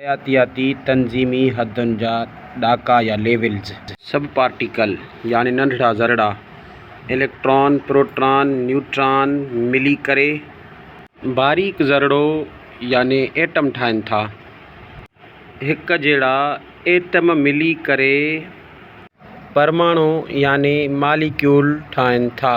حياتياتي تنظيمي حدن جا ڏاڪا يا ليولز. سب پارٽيڪل يعني ننڍڙا ذرڙا، اليڪٽران، پروٽران، نيوٽران، ملي ڪري. باريڪ ذرڙو يعني ايٽم ٺاهن ٿا. هڪ جهڙا ايٽم ملي ڪري. پرماڻو يعني ماليڪيول ٺاهن ٿا.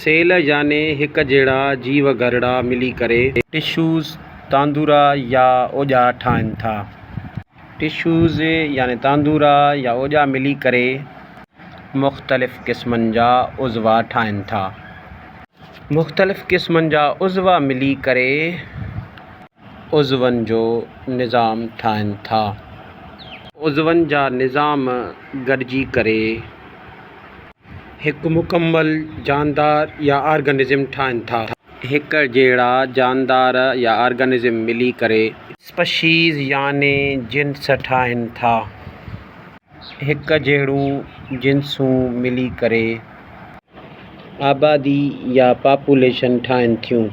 سيل يعني هڪ جهڙا جيو گهرڙا ملي ڪري. ٽشوز، تاندورا يا اوڄا ٺاهن ٿا. ٽشوز يعني تاندورا يا اوڄا ملي ڪري مختلف قسمن جا عضوا ٺاهن ٿا. مختلف قسمن جا عضوا ملي ڪري عضون جو نظام ٺاهن ٿا. عضون جا نظام گڏجي ڪري هڪ مڪمل جاندار يا آرگنزم ٺاهن ٿا. هڪ جهڙا جاندار يا آرگنزم ملي ڪري. اسپشيز يعني جنس ٺاهن ٿا. هڪ جهڙون جنسون ملي ڪري. آبادي يا پاپوليشن ٺاهن ٿيون.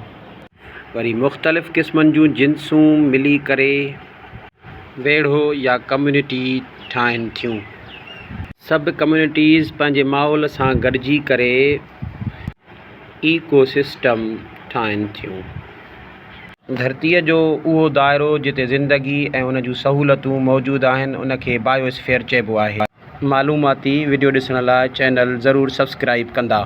وري مختلف قسمن جون جنسون ملي ڪري ويڙهو يا ڪميونٽي ٺاهن ٿيون. سب ڪميونٽيز پنهنجي ماحول سان گڏجي ڪري ايڪو سسٽم ٺاهن ٿيون. ڌرتيء جو اهو دائرو جتي زندگي ۽ ان جون سهولتون موجود آهن ان کي بائيواسفيئر چئبو آهي. معلوماتي وڊيو ڏسڻ لاء چينل ضرور سبسڪرائيب ڪندا.